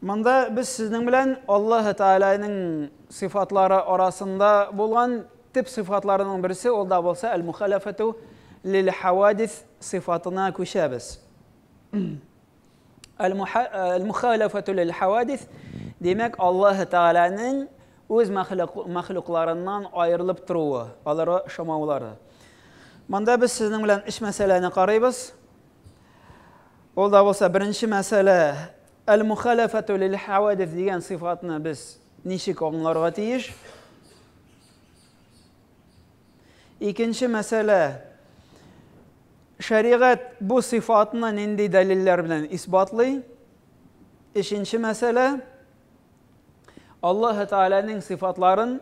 Монда без сезнең белән Аллаһ Тәгаләнең сыйфатлары арасында булган төп сыйфатларының берсе ул да булса әл-мухалафату лил хавадис сыйфатына күчәбез. Әл-мухалафату лил хавадис димәк Аллаһ Тәгаләнең үз мәхлукларыннан аерылып торуы, алары шамаулары. Монда без сезнең белән өч мәсьәләне карыйбыз. Ул да булса беренче мәсьәлә, әл-мухалафату лил хавадис дигән сыйфатны без ничек аңларга тиеш? Икенче мәсьәлә, шәригать бу сыйфатны нинди дәлилләр белән исбатлый? Өченче мәсьәлә, Аллаһы Тәгаләнең сыйфатларын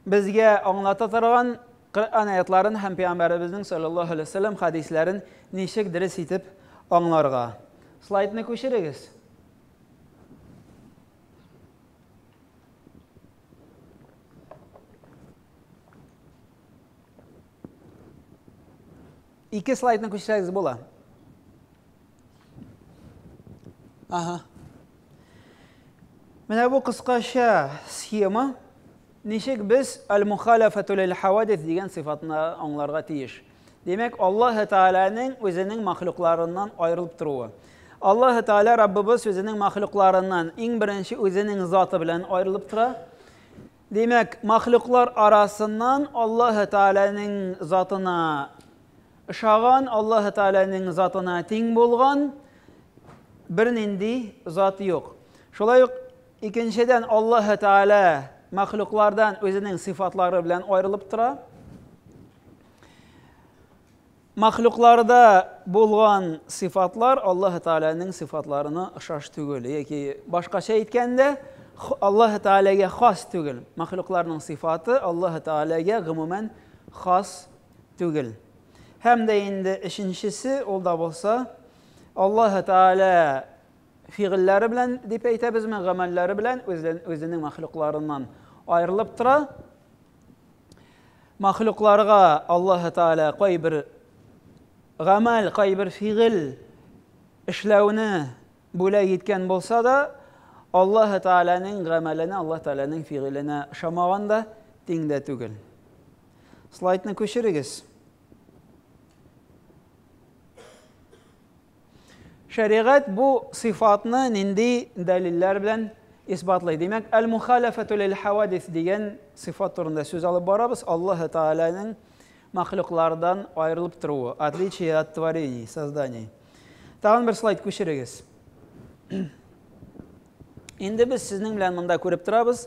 безгә аңлата торган Коръән аятларын һәм пәйгамбәребезнең саллаллаһу алейһи вәсәлләм хәдисләрен ничек дөрес итеп аңларга? Слайдны күчерегез. Ике слайдны күчерсәгез була. Ага. Менә бу кыскача схема ничек без аль-мухаляфату лил-хавадис дигән сыйфатны аңларга тиеш. Димәк, Аллаһ Тәгаләнең үзенең махлукларыннан аерылып торуы. Аллаһ Тәгалә Раббыбыз үзенең махлукларыннан иң беренче үзенең заты белән аерылып тора. Димәк, махлуклар арасыннан Аллаһ Тәгаләнең затына Ошаган, Аллаһы Тәгаләнең затына тиң булган бернинди зат юк. Шулай ук икенчедән Аллаһы Тәгалә мәхлуклардан үзенең сыйфатлары белән аерылып тора. Мәхлукларда булган сыйфатлар Аллаһы Тәгаләнең сыйфатларына ошаш түгел, яки башкача әйткәндә, Аллаһы Тәгаләгә хас түгел. Мәхлукларның сыйфаты Аллаһы Тәгаләгә гомумән хас түгел. Һәм дә инде өченчесе, ул да булса, Аллаһы Тәгалә фигыльләре белән дип әйтәбезме, гамәлләре белән үзенең мәхлукларыннан аерылып тора. Мәхлукларга Аллаһы Тәгалә кайбер гамәл, кайбер фигыль эшләүне бүләк иткән булса да, Аллаһы Тәгаләнең гамәленә, Аллаһы Тәгаләнең фигыленә ошамаган да, тиң дә түгел. Слайдны күчерегез. Шәригать бу сыйфатны нинди дәлилләр белән исбатлый? Димәк, әл-мухаляфату лил хавадис дигән сыйфат турында сүз алып барабыз. Аллаһ Тааляның мәхлуклардан аерылып торуы, отличие от творений, созданий. Тагын бер слайд күчерегез. Инде без сезнең белән монда күреп торабыз.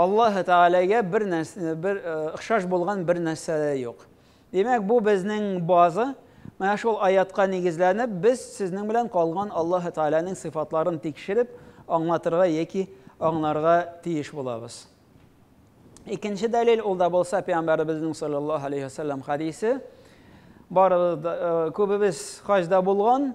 Аллаһ Тәгаләгә бер нәрсә, бер э, охшаш булган бер нәрсә дә юк. Димәк, бу безнең база. Менә шул аятка нигезләнеп, без сезнең белән калган Аллаһ Тәгаләнең сыйфатларын тикшереп, аңлатырга яки аңларга тиеш булабыз. Икенче дәлил ул да булса пәйгамбәребезнең саллаллаһу алейхи ва саллям хадисе. Барыбыз э, күбебез хаҗда булган.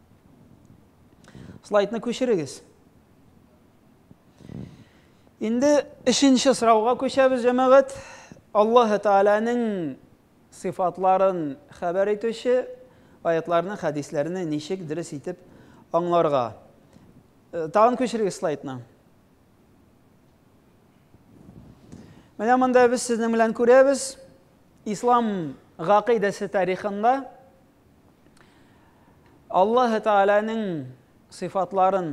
Слайдны күчерегез. Инде өченче сорауга күчәбез, җәмәгать. Аллаһ Тәгаләнең сыйфатларын хәбәр итүче аятларны, хәдисләрне ничек дөрес итеп аңларга? Э, тагын күчерегез слайдны. Менә монда без сезнең белән күрәбез. Ислам гакыйдәсе тарихында Аллаһы Тәгаләнең сыйфатларын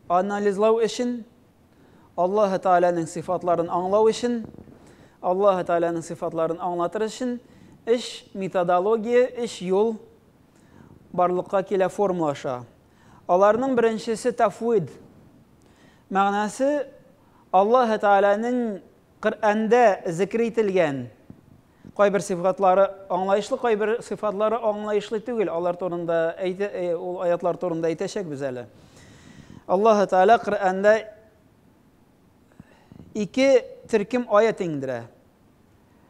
анализлау өчен, Аллаһы Тәгаләнең сыйфатларын аңлау өчен, Аллаһы Тәгаләнең сыйфатларын аңлатыр өчен эш методология, эш юл барлыкка килә формула аша. Аларның беренчесе тафвид. Мәгънәсе Аллаһы Тәгаләнең Коръәндә зикер ителгән кайбер сыйфатлары аңлаешлы, кайбер сыйфатлары аңлаешлы түгел, алар турында әйтә, э, ул аятлар турында әйтәчәкбез әле. Аллаһы Тәгалә Коръәндә ике төркем аят иңдерә.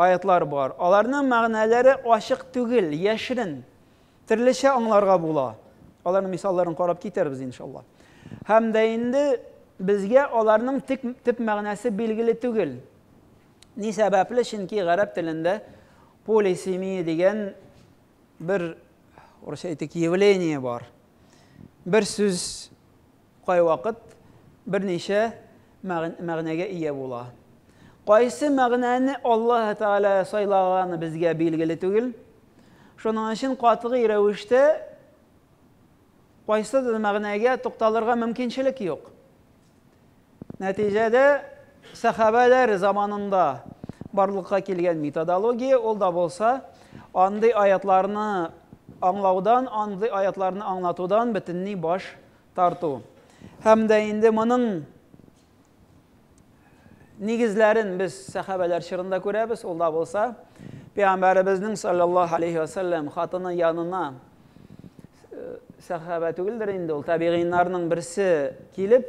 аятьлар бар. Аларның мәгънәләре ачык түгел, яшерен. Төрлечә аңларга була. Аларның мисалларын карап китәрбез, иншалла. Һәм дә инде безгә аларның тик төп мәгънәсе билгеле түгел. Ни сәбәпле? Чөнки гарәп телендә полисемия дигән бер, урысча әйтик, явление бар. Бер сүз Кайвакыт берничә мәгънәгә ия була. Кайсы мәгънәне Аллаһ Тәгалә сайлаганы безгә билгеле түгел. Шуның өчен катгый рәвештә кайсыдыр мәгънәгә тукталырга мөмкинчелек юк. Нәтиҗәдә сәхабәләр заманында барлыкка килгән методология ул да булса андый аятларны аңлаудан, андый аятларны аңлатудан бөтенләй баш тарту һәм дә инде моның нигезләрен без сәхабәләр чорында күрәбез, ул да булса, пәйгамбәребезнең саллаллаһу алейһи ва саллям хатыны янына сәхабә түгелдер инде ул, табигыйннарның берсе килеп,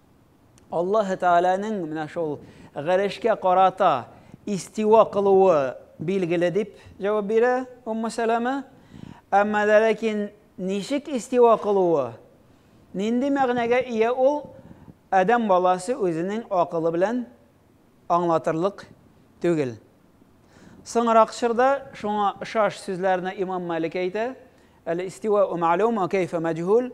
Аллаһы Тәгаләнең менә шул гарешкә карата истива кылуы билгеле дип җавап бирә Умму Сәләмә. Әмма дә ләкин ничек истива кылуы, нинди мәгънәгә ия ул, адәм баласы үзенең акылы белән аңлатырлык түгел. Соңрак чорда шуңа ошаш сүзләрне Имам Малик әйтә, Әл-истивау мәгълүм ва кәйфә мәҗһүл,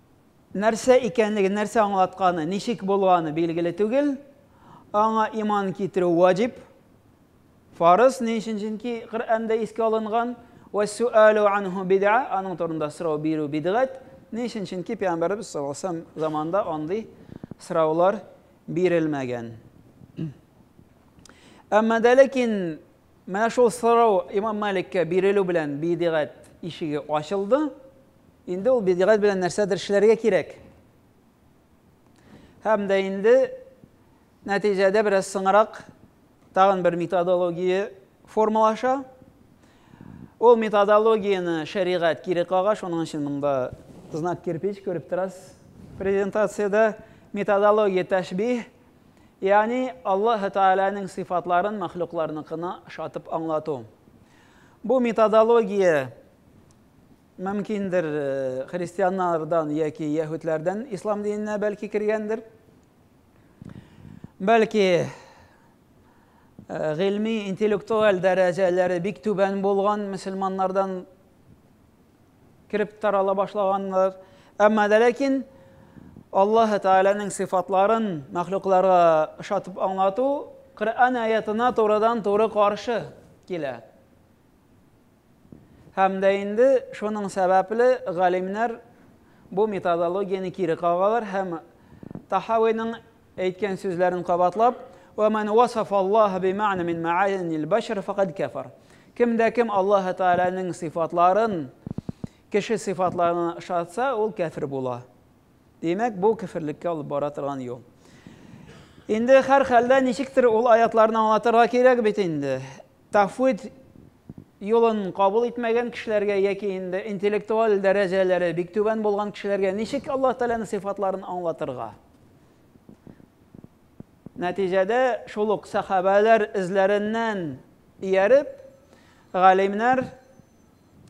Нәрсә икәнлеге, нәрсә аңлатканы, ничек булганы билгеле түгел. Аңа иман китерү ваҗиб, фарыз, ни өчен? Чөнки Коръәндә искә алынган ва суалу анху бидъа, аның турында сорау бирү бидгать. Ни өчен? Чөнки пәйгамбәребез саллаллаһу алейһи ва сәлләм заманында андый сораулар бирелмәгән. Әмма дә ләкин Менә шул сорау имам Маликкә бирелү белән бидигать ишеге ачылды. Инде ул бидигать белән нәрсәдер эшләргә кирәк. Һәм дә инде нәтиҗәдә бераз соңрак тагын бер методология формалаша. Ул методологияне шәригать кире кага, шуның өчен монда знак кирпич күреп торасыз. Презентациядә методология тәшбих, Ягъни Аллаһы Тәгаләнең сыйфатларын мәхлукларныкына ошатып аңлату. Бу методология мөмкиндер христианнардан яки яһүдләрдән ислам диненә бәлки кергәндер. Бәлки гыйльми интеллектуаль дәрәҗәләре бик түбән булган мөселманнардан кереп тарала башлаганнар. Әмма дә ләкин Аллаһ Тәгаләнең сыйфатларын мәхлукларга ошатып аңлату Коръән аятына турыдан-туры каршы килә. Һәм дә инде шуның сәбәпле галимнәр бу методологияне кире кагалар һәм Тахавиның Әйткән сүзләрен кабатлап, Ва мән уасафа Аллаһа бимәгънә мин мәгъанил бәшәр фәкад кәфәр. Кем дә кем Аллаһы Тәгаләнең сыйфатларын кеше сыйфатларына ышатса, ул кәфер була. Димәк, бу кеферлеккә алып бара торган юл. Инде һәрхәлдә ничектер ул аятларны аңлатырга кирәк бит инде. Тафвид юлын кабул итмәгән кешеләргә яки инде интеллектуаль дәрәҗәләре бик түбән булган кешеләргә ничек Аллаһ Тәгаләнең сыйфатларын аңлатырга? Нәтиҗәдә, шул ук сәхабәләр эзләреннән ияреп, галимнәр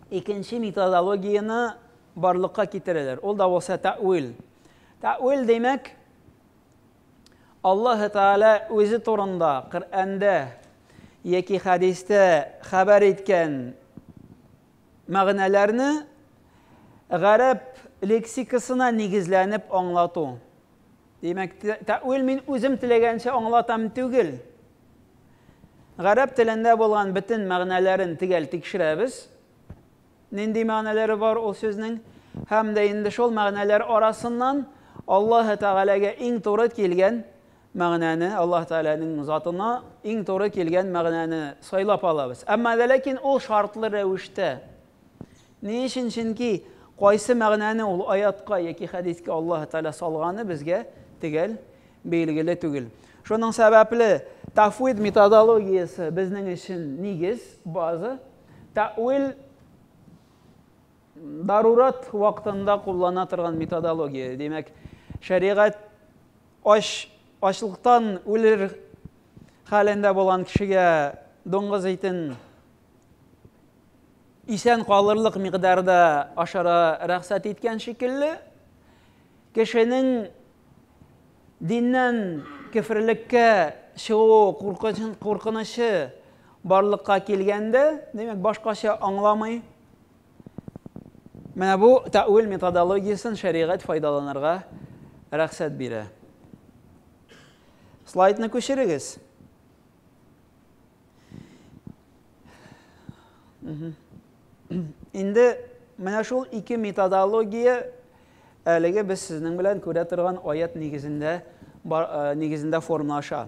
икенче методологияне барлыкка китерәләр. Ул да булса тәвил. Тәвил димәк, Аллаһ Тәгалә үзе турында Коръәндә яки хәдистә хәбәр иткән Мәгънәләрне гарәп лексикасына нигезләнеп аңлату. Димәк, тәэвил мин үзем теләгәнчә аңлатам түгел. Гарәп телендә булган бөтен мәгънәләрен төгәл тикшерәбез. Нинди мәгънәләре бар ул сүзнең? Һәм дә инде шул мәгънәләр арасыннан Аллаһы Тәгаләгә иң туры килгән мәгънәне, Аллаһ Тәгаләнең затына иң туры килгән мәгънәне сайлап алабыз. Әмма вә ләкин ул шартлы рәвештә. Ни өчен? Чөнки кайсы мәгънәне ул аятка яки хәдискә Аллаһ Тәгалә салганы безгә төгәл билгеле түгел. Шуның сәбәпле тафвид методологиясе безнең өчен нигез, база. Тәвил дарурат вакытында куллана торган методология. Димәк, шәригать Ач, ачлыктан үлер хәлендә булган кешегә дуңгыз итен исән калырлык микъдарда ашара рөхсәт иткән шикелле, кешенең диннән кеферлеккә чыгу куркынычы барлыкка килгәндә, димәк, башкача аңламый. Менә бу тәэвил методологиясен шәригать файдаланырга рәхсәт бирә. Слайдны күчерегез. Инде менә шул ике методология әлеге без сезнең белән күрә торган аят нигезендә э, нигезендә формалаша.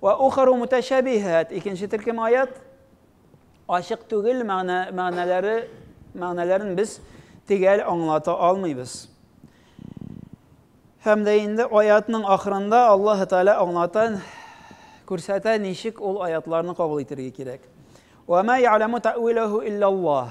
Ва ухару муташабихат. Икенче төркем аят ачык түгел мәгънә мәгънәләре мәгънәләрен без тегәл аңлата алмыйбыз. Һәм дә инде аятның ахырында Аллаһ Тәгалә аңлата, күрсәтә, ничек ул аятларны кабул итәргә кирәк. Ва ма я'ламу та'вилаху иллаллаһ.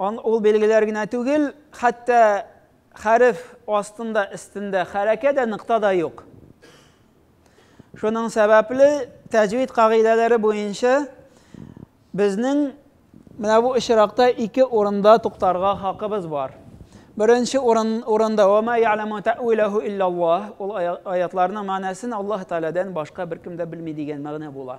Ан ул билгеләр генә түгел, хәтта хәреф астында, өстендә хәрәкә дә, нокта да юк. Шуның сәбәпле тәҗвид кагыйдәләре буенча безнең менә бу очракта ике урында туктарга хакыбыз бар. Беренче урын, урында «Ва ма я'ламу тә'виләһу илляллаһ» ул ая- аятларның мәгънәсен Аллаһ Тәгаләдән башка беркем дә белми дигән мәгънә була.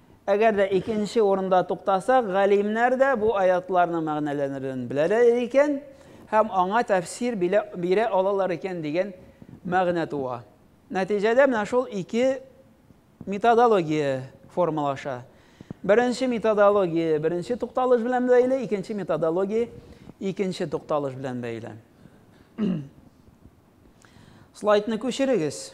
Әгәр дә икенче урында туктасак, галимнәр дә бу аятларның мәгънәләрен беләләр икән һәм аңа тәфсир бирә алалар икән дигән мәгънә туа. Нәтиҗәдә менә шул ике методология формалаша. Беренче методология беренче тукталыш белән бәйле, икенче методология икенче тукталыш белән бәйле. Слайдны күчерегез.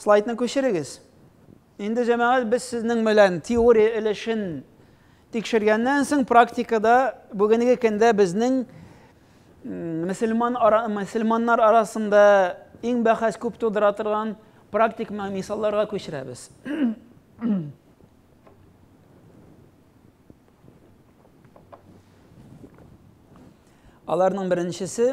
Слайдны күчерегез. Инде җәмәгать без сезнең белән теория өлешен тикшергәннән соң практикада бүгенге көндә безнең мөселман ара, мөселманнар арасында иң бәхәс күп тудыра торган практик мисалларга күчерәбез. Аларның беренчесе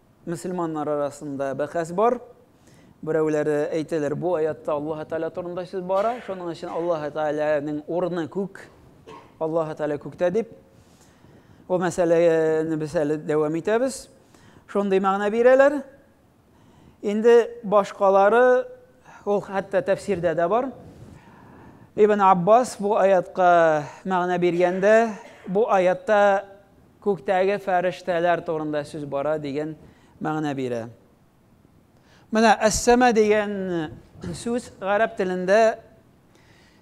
Мөселманнар арасында бәхәс бар. Берәүләре әйтәләр, бу аятта Аллаһ Тәгалә турында сүз бара, шуның өчен Аллаһ Тәгаләнең урыны күк, Аллаһ Тәгалә күктә дип. Бу мәсьәләне без әле дәвам итәбез. Шундый мәгънә бирәләр. Инде башкалары ул хәтта тәфсирдә дә бар. Ибн Аббас бу аятка мәгънә биргәндә, бу аятта Күктәге фәрештәләр турында сүз бара дигән мәгънә бирә. Менә әс-сәма дигән сүз гарәп телендә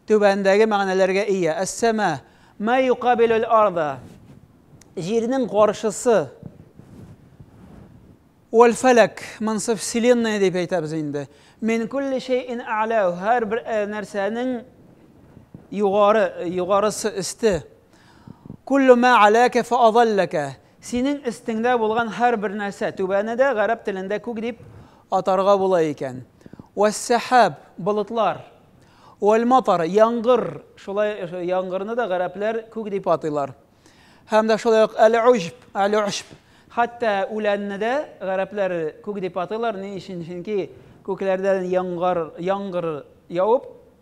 түбәндәге мәгънәләргә ия. Әс-сәма, мә юкабилүл арда, җирнең каршысы. Вәл фәләк, монсы вселенная дип әйтәбез инде. Мин кулли шәйин ә'ләү, һәрбер нәрсәнең югары, югарысы, өсте. Куллу мә аләкә фә азалләкә. Синең өстеңдә булган һәрбер нәрсә, түбәне дә гарәп телендә күк дип атарга була икән. Вәссәхәб, болытлар. Вәлматар, яңгыр. Шулай яңгырны да гарәпләр күк дип атыйлар. Һәм дә шулай ук әл-уҗб, әл-уҗб. Хәтта үләнне дә гарәпләр күк дип атыйлар. Ни өчен? Чөнки күкләрдән яңгыр яуып,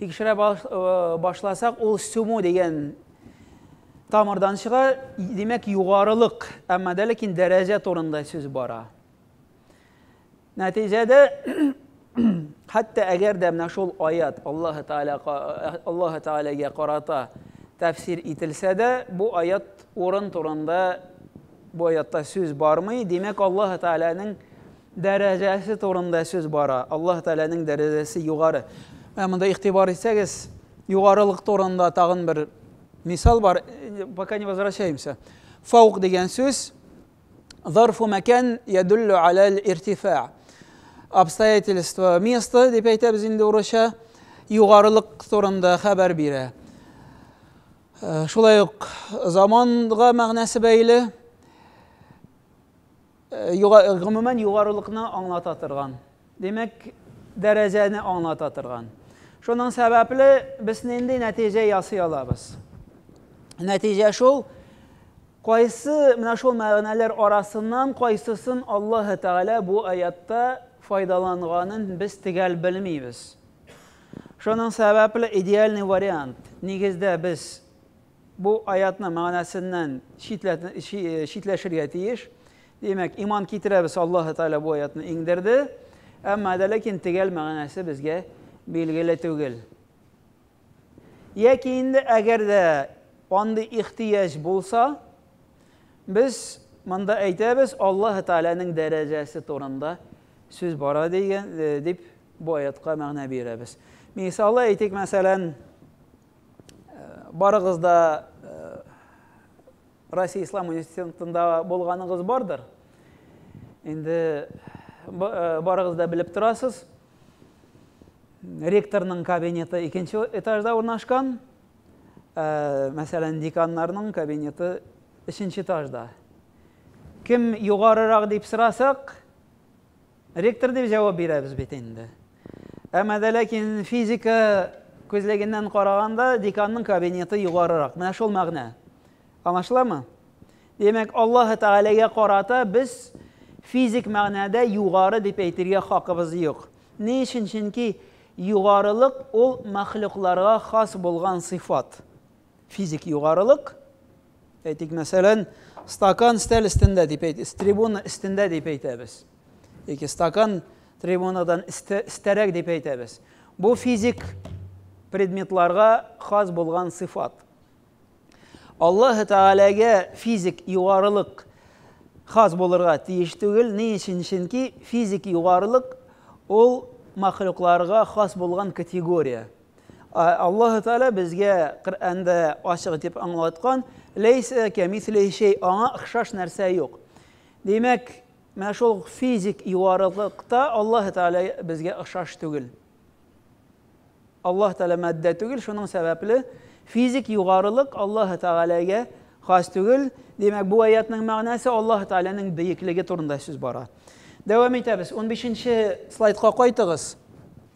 Тикшерә башласак, ул суму дигән тамырдан чыга, димәк, югарылык, әмма дә ләкин дәрәҗә турында сүз бара. Нәтиҗәдә, хәтта әгәр дә менә шул аят Аллаһ Тааля Аллаһ Таалягә карата тәфсир ителсә дә, бу аят урын турында Бу аятта сүз бармый, димәк, Аллаһ Тәгаләнең дәрәҗәсе турында сүз бара. Аллаһ Тәгаләнең дәрәҗәсе югары. Ә монда игътибар итсәгез, югарылык турында тагын бер мисал бар. Пока не возвращаемся. Фаук дигән сүз зарфу мәкән ядуллю алал иртифа. Обстоятельство место дип әйтәбез инде урысча. Югарылык турында хәбәр бирә. Шулай ук заманга мәгънәсе бәйле, гомумән югарылыкны аңлата торган, димәк, дәрәҗәне аңлата торган. Шуның сәбәпле без нинди нәтиҗә ясый алабыз? Нәтиҗә шул, кайсы менә шул мәгънәләр арасыннан кайсысын Аллаһы Тәгалә бу аятта файдаланганын без төгәл белмибез. Шуның сәбәпле идеальный вариант, нигездә без бу аятның мәгънәсеннән читләшергә тиеш. Димәк, иман китерәбез, Аллаһы Тәгалә бу аятны иңдерде. Әмма дә ләкин төгәл мәгънәсе безгә билгеле түгел. Яки инде әгәр дә андый ихтыяҗ булса, без монда әйтәбез, Аллаһы Тәгаләнең дәрәҗәсе турында Сүз бара дигән, э, дип бу аятка мәгънә бирәбез. Мисалы әйтик, мәсәлән, э, барыгыз да э, Россия Ислам университетында булганыгыз бардыр. Инде барыгыз да белеп торасыз. Ректорның кабинеты икенче этажда урнашкан. Мәсәлән, деканнарның кабинеты өченче этажда. Кем югарырак дип сорасак, Ректор дип җавап бирәбез бит инде. Әмма дә ләкин физика күзлегеннән караганда деканның кабинеты югарырак. Менә шул мәгънә. Аңлашыламы? Димәк, Аллаһ Тәгаләгә карата без физик мәгънәдә югары дип әйтергә хакыбыз юк. Ни өчен? Чөнки югарылык ул мәхлукларга хас булган сыйфат. Физик югарылык, әйтик, мәсәлән, стакан стәл өстендә дип әйтәбез, трибуна өстендә дип әйтәбез. Яки стакан трибунадан өстәрәк дип әйтәбез. Бу физик предметларга хас булган сыйфат. Аллаһ Тәгаләгә физик югарылык хас булырга тиеш түгел. Ни өчен? Чөнки физик югарылык ул махлукларга хас булган категория. Аллаһ Тәгалә безгә Коръәндә ачык итеп аңлаткан, ләйсә кәмислихи шәй, аңа охшаш нәрсә юк. Димәк, менә шул физик юарылыкта Аллаһ Тәгалә безгә охшаш түгел. Аллаһ Тәгалә матдә түгел, шуның сәбәпле физик югарылык Аллаһ Тәгаләгә хас түгел. Димәк, бу аятның мәгънәсе Аллаһ Тәгаләнең бөеклеге турында сүз бара. Дәвам итәбез. 15 нче слайдка кайтыгыз.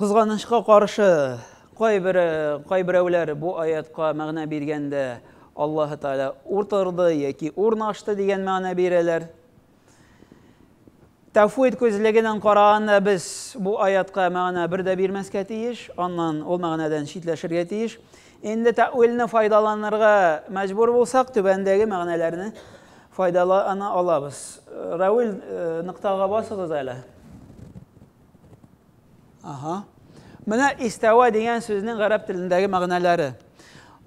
Кызганычка каршы, кайбер кайберәүләр бу аятка мәгънә биргәндә Аллаһы Тәгалә утырды яки урнашты дигән мәгънә бирәләр. Тәфвид күзлегеннән караганда без бу аятка мәгънә бер дә бирмәскә тиеш, аннан ул мәгънәдән читләшергә тиеш. Инде тәвилне файдаланырга мәҗбүр булсак, түбәндәге мәгънәләрне файдалана алабыз. Равил ноктага басыгыз әле. Ага. Менә истәва дигән сүзнең гарәп телендәге мәгънәләре.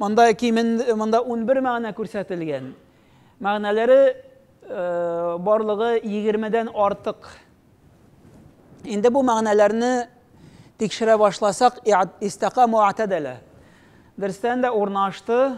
Монда кимен монда 11 мәгънә күрсәтелгән. Мәгънәләре э, барлыгы 20-дән артык. Инде бу мәгънәләрне тикшерә башласак, истака муатадәлә. Дөрестән дә урнашты,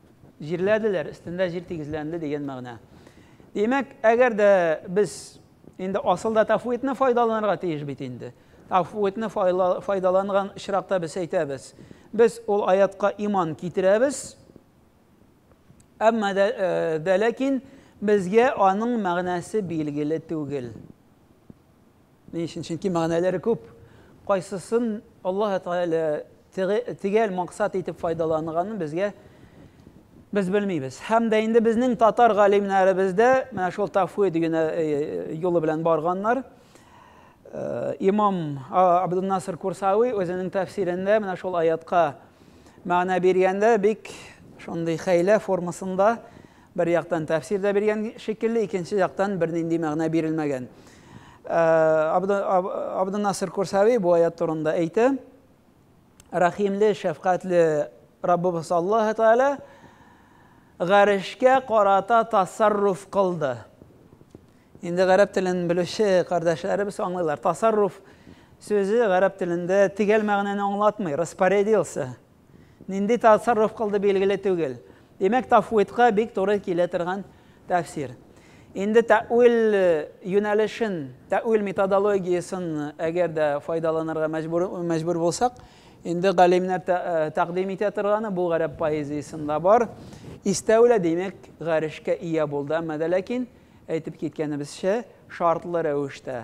Җирләделәр, өстендә җир тигезләнде дигән мәгънә. Димәк, әгәр дә без инде асылда тафвитны файдаланырга тиеш бит инде. Тафвитны файдаланган очракта без әйтәбез, без ул аятка иман китерәбез, әмма дә ләкин безгә аның мәгънәсе билгеле түгел. Ни өчен? Чөнки мәгънәләре күп. Кайсысын Аллаһ Тәгалә төгәл максат итеп файдаланганын безгә без белмибез. Һәм дә инде безнең татар галимнәребез дә менә шул тафвид генә юлы белән барганнар. Имам Абдул-Наср Курсави үзенең тәфсирендә менә шул аятка мәгънә биргәндә бик шундый хәйлә формасында Бер яктан тәфсир дә биргән шикелле, икенче яктан бернинди мәгънә бирелмәгән. Абдуннасыр Курсави бу аят турында әйтә, Рәхимле, шәфкатьле Раббыбыз Аллаһы Тәгалә гарешкә карата тасарруф кылды. Инде гарәп телен белүче кардәшләребез аңлыйлар. Тасарруф сүзе гарәп телендә тигәл мәгънәне аңлатмый, распорядился Нинди тасарруф кылды билгеле түгел. Димәк, тафвидка бик туры килә торган тәфсир. Инде тәэвил юнәлешен, тәэвил методологиясен әгәр дә файдаланырга мәҗбүр мәҗбүр булсак, инде галимнәр тәкъдим итә торганы бу гарәп поэзиясендә бар. Истәүлә, димәк, гарешкә ия булды, әмма дә ләкин, әйтеп киткәнебезчә, шартлы рәвештә.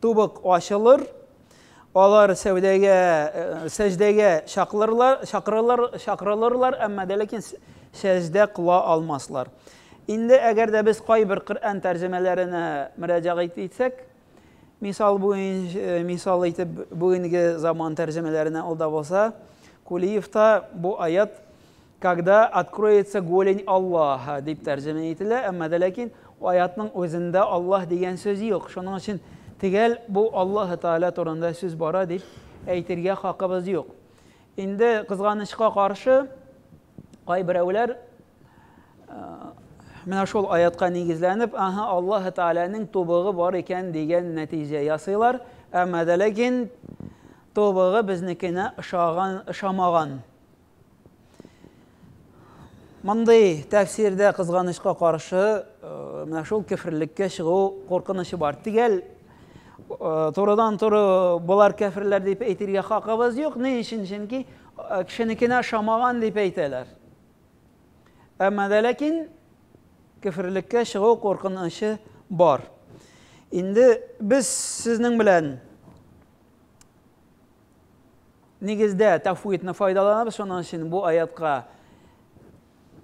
Тубык ачылыр, алар сәүдәгә, э, сәҗдәгә чакырылар, чакырылар, чакырылырлар, әмма дә ләкин сәҗдә кыла алмаслар. Инде әгәр дә без кайбер Коръән тәрҗемәләренә мөрәҗәгать итсәк, мисал буенча, э, мисал итеп бүгенге заман тәрҗемәләренә алда булса, Кулиевта бу аят Когда откроется голень Аллаһа, дип тәрҗемә ителә, әмма дә ләкин аятның үзендә Аллаһ дигән сүз юк. Шуның өчен төгәл бу Аллаһы Тәгалә турында сүз бара дип әйтергә хакыбыз юк. Инде кызганычка каршы, кайберәүләр менә шул аятка нигезләнеп, аһа, Аллаһы Тәгаләнең тубыгы бар икән дигән нәтиҗә ясыйлар. Әмма дә ләкин тубыгы безнекенә ошаган, ошамаган. Мондый тәфсирдә кызганычка каршы, э, менә шул кефирлеккә чыгу куркынычы бар. Тигәл э, турыдан туры болар кәфирләр дип әйтергә хакыбыз юк. Ни өчен? Чөнки э, кешенекенә шамаган дип әйтәләр. Әмма дә ләкин кефирлеккә чыгу куркынычы бар. Инде без сезнең белән Нигездә тәфвидны файдаланабыз, шуның өчен бу аятка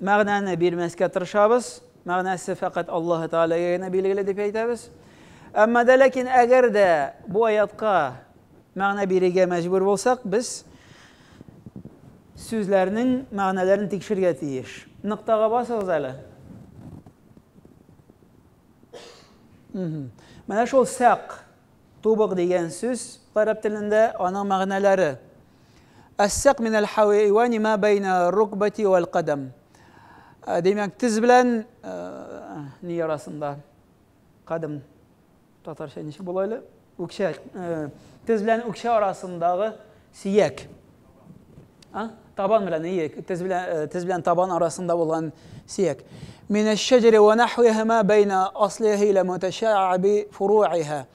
мәгънәне бирмәскә тырышабыз. Мәгънәсе фәкать Аллаһ Тәгаләгә генә билгеле дип әйтәбез. Әмма дә ләкин әгәр дә бу аятка мәгънә бирергә мәҗбүр булсак, без сүзләрнең мәгънәләрен тикшергә тиеш. Ныктага басыгыз әле. Менә шул сәк Тубык дигән сүз гарәп телендә, аның мәгънәләре. Әссәк мин әл-хәйвани мә бәйнә рукбати вә әл-кадам. Димәк, тез белән ни арасында? Кадам татарча ничек була әле? Үкчә, тез белән үкчә арасындагы Сөяк. А? Табан белән, ие, тез белән, э, тез белән табан арасында булган сөяк. Мин әш-шәҗәре ва нахвихима бәйна аслихи ла муташаби фуруиха.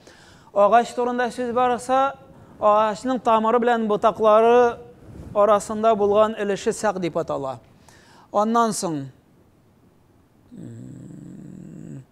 Агач турында сүз барса, агачның тамыры белән ботаклары арасында булган өлеше сак дип атала. Аннан соң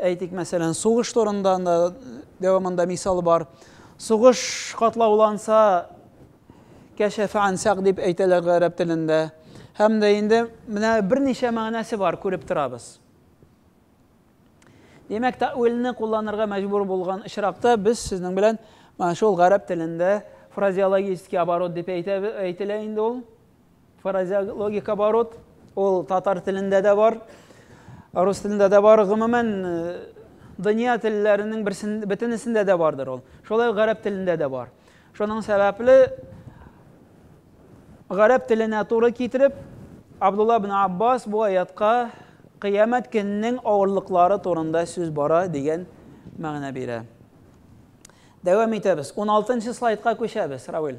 Әйтик, мәсәлән, сугыш турында да дәвамында мисал бар. Сугыш катлауланса, кәшәфә ансак дип әйтәләр гарәп телендә. Һәм дә инде менә берничә мәгънәсе бар, күреп торабыз. Димәк, тәвилне кулланырга мәҗбүр булган очракта без сезнең белән шул гарәп телендә фразеологический оборот дип әйтелә инде ул. Фразеологик оборот, ул татар телендә дә бар, рус телендә дә бар, гомумән дөнья телләренең берсен, бөтенесендә дә бардыр ул. Шулай гарәп телендә дә бар. Шуның сәбәпле гарәп теленә туры китереп, Абдулла ибн Аббас бу аятка кыямәт көненең авырлыклары турында сүз бара дигән мәгънә бирә. Дәвам итәбез. 16 нчы слайдка күчәбез, Равил.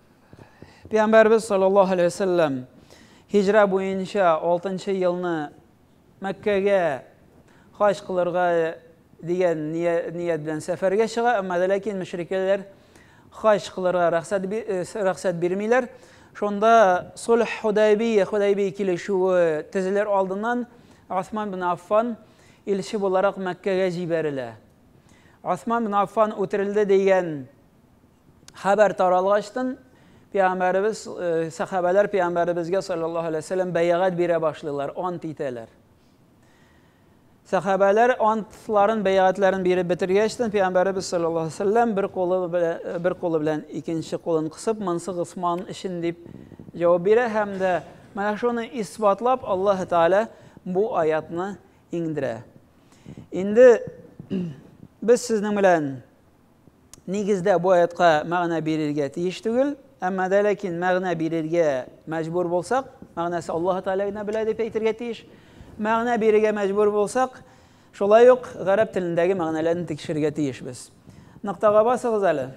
Пәйгамбәрбез саллаллаһу алейһи ва сәлләм һиҗра буенча 6нчы елны Мәккәгә хаҗ кылырга дигән ният белән сәфәргә чыга, әмма дә ләкин мөшрикәләр хаҗ кылырга рөхсәт рөхсәт бирмиләр. Шунда Сульх Худайбия, Худайбия килешүе төзелер алдыннан Осман бин Аффан илче буларак Мәккәгә җибәрелә. Осман бин Аффан үтерелде дигән Хәбәр таралгачтын, пәйгамбәребез, сәхабәләр пәйгамбәребезгә саллаллаһу алейһи вәсәлләм бәягать бирә башлыйлар, ант итәләр. Сәхабәләр антларын, бәягатьләрен биреп бетергәчтен, пәйгамбәребез саллаллаһу алейһи вәсәлләм бер кулы белән бер кулы белән икенче кулын кысып, монсы Госман өчен дип җавап бирә һәм дә менә шуны исбатлап Аллаһ Тәгалә бу аятны иңдерә. Инде без сезнең белән нигездә бу аятка мәгънә бирергә тиеш түгел, әмма дә ләкин мәгънә бирергә мәҗбүр булсак, мәгънәсе Аллаһ Тәгалә генә белә дип әйтергә тиеш. Мәгънә бирергә мәҗбүр булсак, шулай ук гарәп телендәге мәгънәләрне тикшерергә тиешбез. Ноктага басыгыз әле.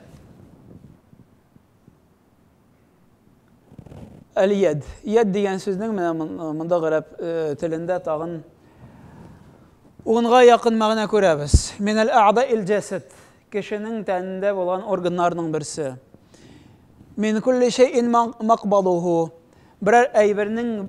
Әл-яд. Яд дигән сүзнең менә монда гарәп телендә тагын унга якын мәгънә күрәбез. Минәл әгъда ил-җәсәд. Кешенең тәнендә булган органнарның берсе. Мин кулли шәйин макбадуху. Берәр әйбернең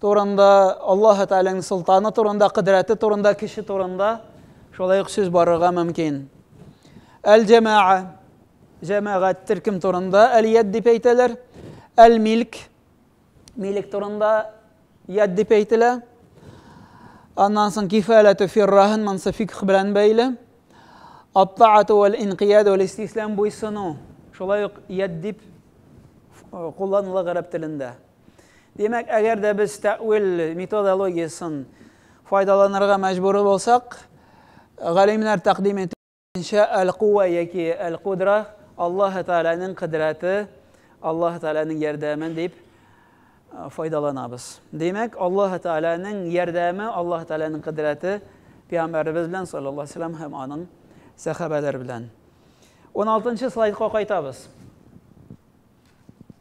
турында, Аллаһы Тәгаләнең солтаны турында, кодрәте турында, кеше турында шулай ук сүз барырга мөмкин. Әл-җәмаа, җәмәгать төркем турында әл-яд дип әйтәләр. Әл-милк, милек турында яд дип әйтелә. Аннан соң кифаләтү фиррахын монсы фикх белән бәйле. Аттаату вәл инкияд вәл истислам буйсыну. Шулай ук яд дип кулланыла гарәп телендә. Димәк, әгәр дә без тәвил методологиясен файдаланырга мәҗбүр булсак, галимнәр тәкъдим иткәнчә әл-куа яки әл-кудра Аллаһ Тәгаләнең кодрәте, Аллаһ Тәгаләнең ярдәме дип файдаланабыз. Димәк, Аллаһ Тәгаләнең ярдәме, Аллаһ Тәгаләнең кодрәте пәйгамбәребез белән саллаллаһу алейһи ва саллям һәм аның сәхабәләре белән. 16 нчы слайдка кайтабыз.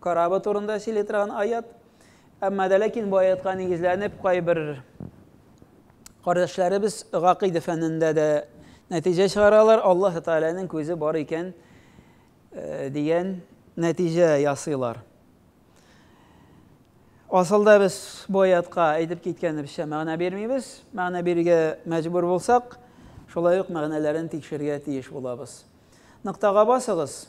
Корабы турында сөйли торган аят. Әмма дә ләкин бу аятка нигезләнеп кайбер кардәшләребез гакыйдә фәнендә дә нәтиҗә чыгаралар, Аллаһ Тәгаләнең күзе бар икән э, дигән нәтиҗә ясыйлар. Асылда без бу аятка әйтеп киткәнебезчә мәгънә бирмибез. Мәгънә бирергә мәҗбүр булсак, шулай ук мәгънәләрен тикшергә тиеш булабыз. Ныктага басыгыз.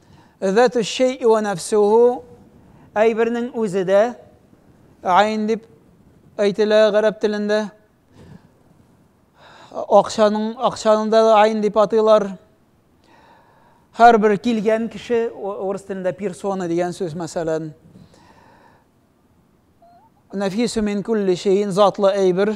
Затү-шшей-и вә нәфсү-һу, әйбернең үзе дә, айн дип әйтелә гарәп телендә. Акчаның, акчаның да айн дип атыйлар. Һәр бер килгән кеше, урыс телендә персона дигән сүз, мәсәлән, нәфисү мин күлли шейн, затлы әйбер,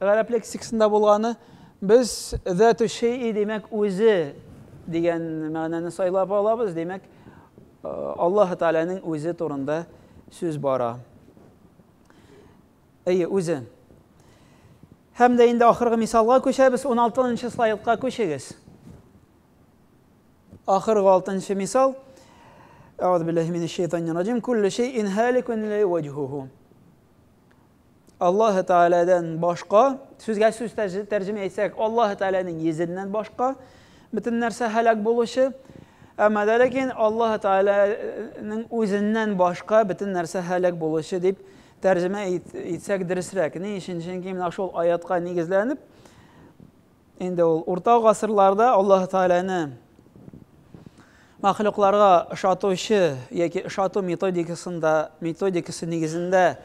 Гарәп лексикасында булганы, без зату шейи, димәк, үзе дигән мәгънәне сайлап алабыз, димәк, Аллаһы Тәгаләнең үзе турында сүз бара. Әйе, үзе. Һәм дә инде ахыргы мисалга күчәбез, 16 нчы слайдка күчегез. Ахыргы 6 нчы мисал. Әгъзу биллаһи минәш шәйтанир раҗим. Кулле шәйин халикун ла ваҗһуху. Аллаһы Тәгаләдән башка, сүзгә сүз тәрҗемә итсәк, Аллаһы Тәгаләнең йөзеннән башка бөтен нәрсә һәлак булучы, әмма дә ләкин Аллаһы Тәгаләнең үзеннән башка бөтен нәрсә һәлак булучы дип тәрҗемә итсәк дөресрәк. Ни өчен? Чөнки менә шул аятка нигезләнеп, Инде ул урта гасырларда Аллаһ Тәгаләне мәхлукларга ошатучы яки ошату методикасында, методикасы нигезендә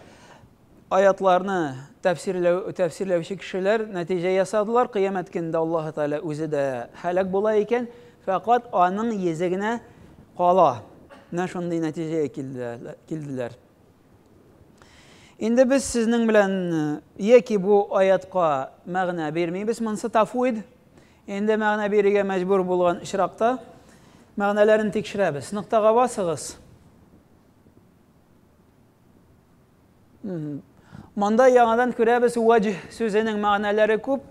аятларны тәфсирләү, тәфсирләүче кешеләр нәтиҗә ясадылар. Кыямәт көндә Аллаһ Тәгалә үзе дә һәлак була икән, фәкать аның йөзе генә кала. Менә шундый нәтиҗәгә килделәр. Инде без сезнең белән яки бу аятка мәгънә бирмибез, монсы тафуид. Инде мәгънә бирергә мәҗбүр булган очракта мәгънәләрен тикшерәбез. Ноктага басыгыз. Монда яңадан күрәбез ваҗ сүзенең мәгънәләре күп.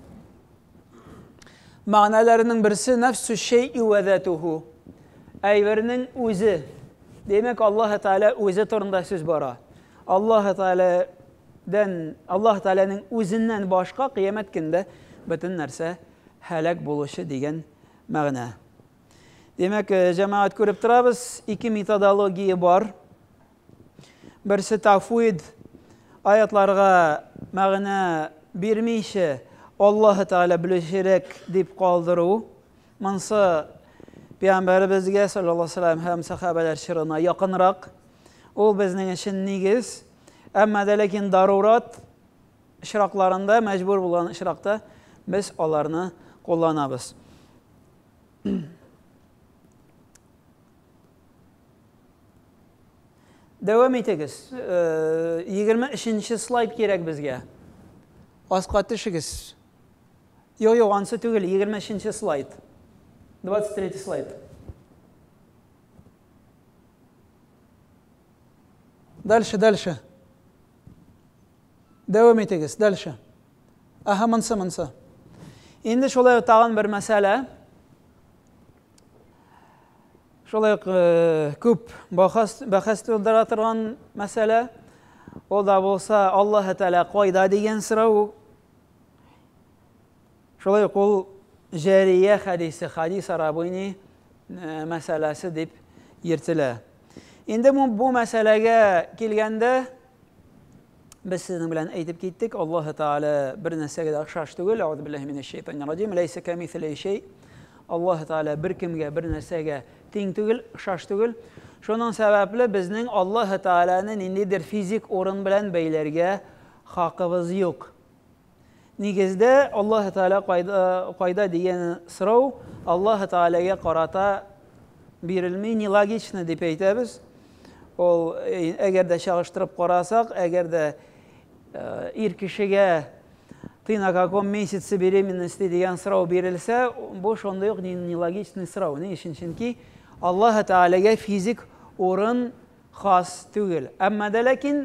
Мәгънәләренең берсе нәфсү шәйи вә затуху. Әйбернең үзе. Димәк, Аллаһ Тәгалә үзе турында сүз бара. Аллаһ Тәгаләдән, Аллаһ Тәгаләнең үзеннән башка кыямәт көндә бөтен нәрсә һәлак булучы дигән мәгънә. Димәк, җәмәгать күреп торабыз, ике методология бар. Берсе тафвид аятларга мәгънә бирмичә, Аллаһы Тәгалә белүчерәк дип калдыру. Монсы Пәйгамбәребезгә саллаллаһу алейһи ва саллям һәм сахабәләр чорына якынрак. Ул безнең өчен нигез. Әмма дә ләкин дарурат очракларында, мәҗбүр булган очракта без аларны кулланабыз. Дәвам итегез. 23-нче э, слайд кирәк безгә. Аска төшегез. Йо, йо, ансы түгел, 23-нче слайд. 23 слайд. Дальше, дальше. Дәвам итегез, дальше. Аха, монсы, монсы. Инде шулай тагын бер мәсьәлә. Шулай ук күп бахас, бәхәс тудыра торган мәсьәлә. Ул да булса, Аллаһ Тәгалә кайда дигән сорау. Шулай ук ул Җәрия хәдисе, хадис арабыйни мәсьәләсе дип йөртелә. Инде бу мәсьәләгә килгәндә, Без сезнең белән әйтеп киттек, Аллаһы Тәгалә бер нәрсәгә дә охшаш түгел. Аузу биллаһи минәш шәйтанир раҗим. Ләйсә камисилей шәй. Аллаһы Тәгалә бер кемгә, бер нәрсәгә тиң түгел, охшаш түгел. Шуның сәбәпле безнең Аллаһы Тәгаләне ниндидер физик урын белән бәйләргә хакыбыз юк. Нигездә Аллаһ Тәгалә кайда, кайда дигән сорау Аллаһ Тәгаләгә карата бирелми, нелогично дип әйтәбез. Ул әгәр дә чагыштырып карасак, әгәр дә ир кешегә ты на каком месяце беременности дигән сорау бирелсә, бу шундый ук нелогичный сорау. Ни өчен? Чөнки Аллаһ Тәгаләгә физик урын хас түгел. Әмма дә ләкин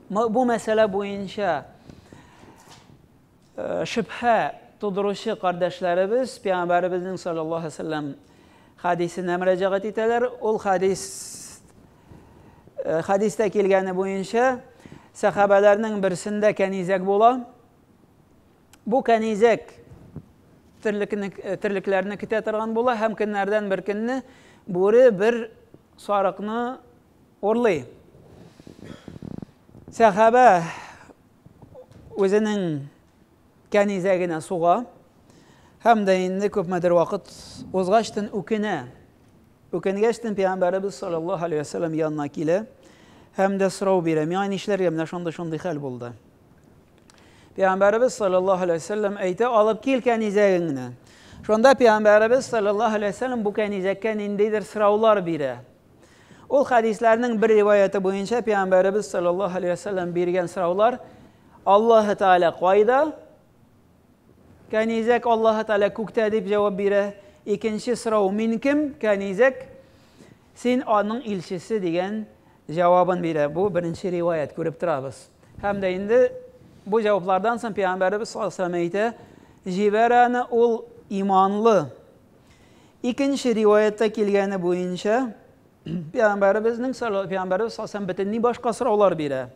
Бу мәсьәлә буенча шөбһә тудыручы кардәшләребез Пәйгамбәребезнең саллаллаһу алейһи ва сәлләм хәдисенә мөрәҗәгать итәләр. Ул хәдис хәдистә килгәне буенча сәхабәләрнең берсендә кәнизәк була. Бу кәнизәк терлекне терлекләрне көтә торган була һәм көннәрдән бер көнне бүре бер сарыкны Урлый. Сәхабә үзенең кәнизәгенә суга һәм дә инде күпмедер вакыт узгачтын үкенә. Үкенгәчтен пәйгамбәребез саллаллаһу алейһи вәсәлләм янына килә һәм дә сорау бирә. Миңа нишләргә менә шундый шундый хәл булды. Пәйгамбәребез саллаллаһу алейһи вәсәлләм әйтә, алып кил кәнизәгеңне. Шунда пәйгамбәребез саллаллаһу алейһи вәсәлләм бу кәнизәккә ниндидер сораулар бирә. Ул хәдисләрнең бер риваяты буенча пәйгамбәребез саллаллаһу алейһи ва саллям биргән сораулар Аллаһы Тааля кайда? Кәнизәк Аллаһы Тааля күктә дип җавап бирә. Икенче сорау мин кем? Кәнизәк син аның илчесе дигән җавабын бирә. Бу беренче риваят күреп торабыз. Һәм дә инде бу җаваплардан соң пәйгамбәребез саллаллаһу алейһи ва әйтә, җибәрәне ул иманлы. Икенче риваятта килгәне буенча, Пәйгамбәребезнең Пәйгамбәребез саллаллаһу бөтенләй башка сораулар бирә.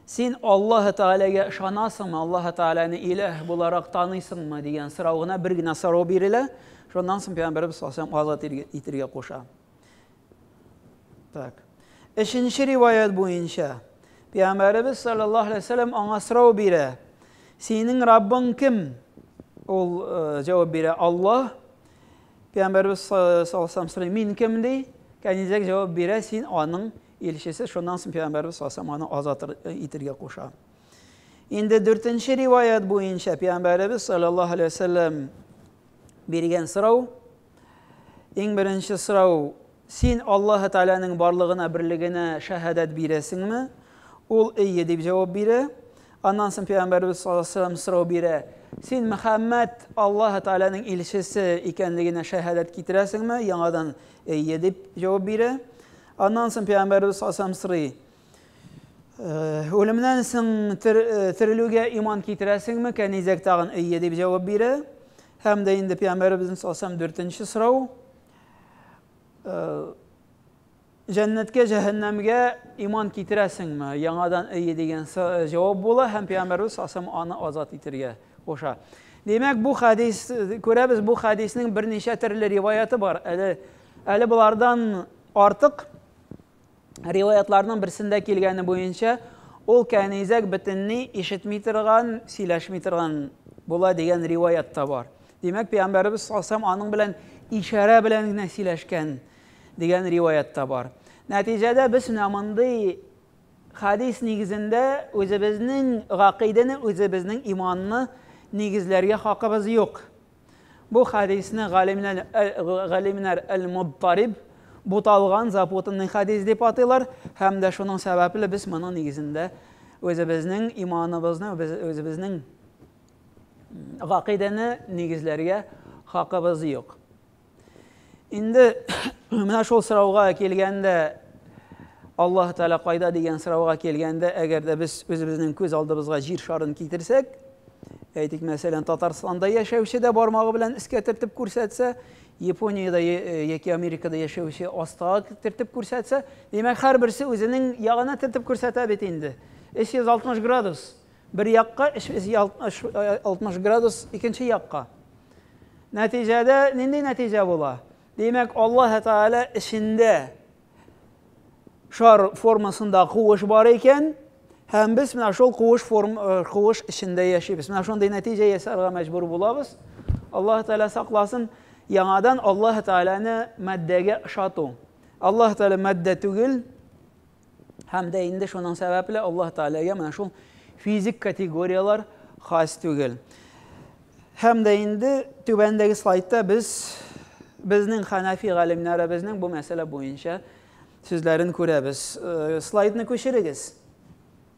Син Аллаһ Тәгаләгә ышанасыңмы, Аллаһ Тәгаләне иләһ буларак таныйсыңмы дигән сорау гына бер генә сорау бирелә. Шуннан соң Пәйгамбәребез саллаллаһу алейһи азат итергә куша. Так. Өченче риваять буенча, Пәйгамбәребез саллаллаһу алейһи ва сәлләм аңа сорау бирә. Синең Раббың кем? Ул э, җавап бирә, Аллаһ. Пәйгамбәребез саллаллаһу алейһи ва сәлләм сорый, мин кем ди? Кәнизәк җавап бирә, син аның илчесе. Шуннан соң Пәйгамбәребез саллаллаһу алейһи ва сәлләм аны азат э, итергә куша. Инде дүртенче риваят буенча Пәйгамбәребез саллаллаһу алейһи ва сәлләм биргән сорау Иң беренче сорау, син Аллаһы Тәгаләнең барлыгына, берлегенә шәһадәт бирәсеңме? Ул әйе дип җавап бирә. Аннан соң пәйгамбәребез саллаллаһу алейһи ва сәлләм сорау бирә, син Мөхәммәд Аллаһы Тәгаләнең илчесе икәнлегенә шәһадәт китерәсеңме? Яңадан әйе дип җавап бирә. Аннан соң пәйгамбәребез саллаллаһу алейһи ва сәлләм сорый, Үлемнән соң терелүгә иман китерәсеңме? Кәнизәк тагын әйе дип җавап бирә. Һәм дә инде Пәйгамбәребезнең салсам дүртенче сорау. Җәннәткә, җәһәннәмгә иман китерәсеңме? Яңадан әйе дигән җавап була һәм Пәйгамбәребез салсам аны азат итергә куша. Димәк, бу хәдис күрәбез, бу хәдиснең берничә төрле риваяты бар. Әле әле булардан артык Риваятьләрнең берсендә килгәне буенча, ул кәнизәк бөтенли ишетми торган, сөйләшми торган була дигән риваять та бар. Димәк, пәйгамбәребез салсам аның белән ишарә белән генә сөйләшкән дигән риваять та бар. Нәтиҗәдә без менә мондый хадис нигезендә үзебезнең гакыйдәне, үзебезнең иманны нигезләргә хакыбыз юк. Бу хәдисне галимнәр, галимнәр әл-мудтариб, буталган, запутанный хәдис дип атыйлар, һәм дә шуның сәбәпле без моның нигезендә үзебезнең иманыбызны, үзебезнең гакыйдәне нигезләргә хакыбыз юк. Инде менә шул сорауга килгәндә, Аллаһ Тәгалә кайда дигән сорауга килгәндә, әгәр дә без үзебезнең күз алдыбызга җир шарын китерсәк, әйтик, мәсәлән, Татарстанда яшәүче дә бармагы белән искә төртеп күрсәтсә, Япониядә яки Америкада яшәүче астага төртеп күрсәтсә, димәк, һәрберсе үзенең ягына төртеп күрсәтә бит инде. 360 градус. Бер якка 360 градус икенче якка. Нәтиҗәдә нинди нәтиҗә була? Димәк, Аллаһ Тәгалә эчендә шар формасында куыш бар икән, һәм без менә шул куыш форм э, куыш эчендә яшибез. Менә шундый нәтиҗә ясарга мәҗбүр булабыз. Аллаһ Тәгалә сакласын. Яңадан Аллаһ Тәгаләне матдәгә ошату. Аллаһ Тәгалә матдә түгел, Һәм дә инде шуның сәбәпле Аллаһ Тәгаләгә менә шул физик категорияләр хас түгел. Һәм дә инде түбәндәге слайдта без безнең хәнәфи галимнәребезнең бу мәсьәлә буенча сүзләрен күрәбез. Э, слайдны күчерегез.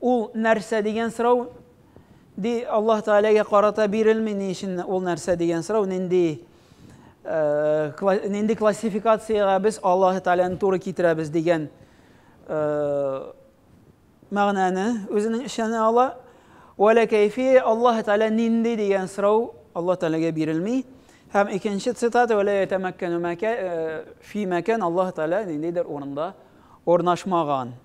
Ул нәрсә дигән сорау, ди, Аллаһ Тәгаләгә карата бирелми, ни өчен ул нәрсә дигән сорау, нинди, нинди классификациягә без Аллаһ Тәгаләне туры китерәбез дигән мәгънәне үзенең эченә ала. Вәлә кәйфи Аллаһ Тәгалә нинди дигән сорау Аллаһ Тәгаләгә бирелми. Һәм икенче цитата вәлә ятамәккәну фи мәкән Аллаһ Тәгалә ниндидер урында урнашмаган.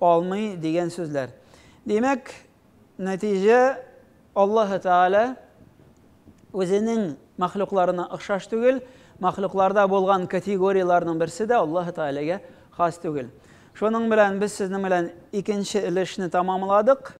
алмый дигән сүзләр. Димәк, нәтиҗә Аллаһы Тәгалә үзенең мәхлукларына охшаш түгел, мәхлукларда булган категорияләрнең берсе дә Аллаһы Тәгаләгә хас түгел. Шуның белән без сезнең белән икенче өлешне тәмамладык.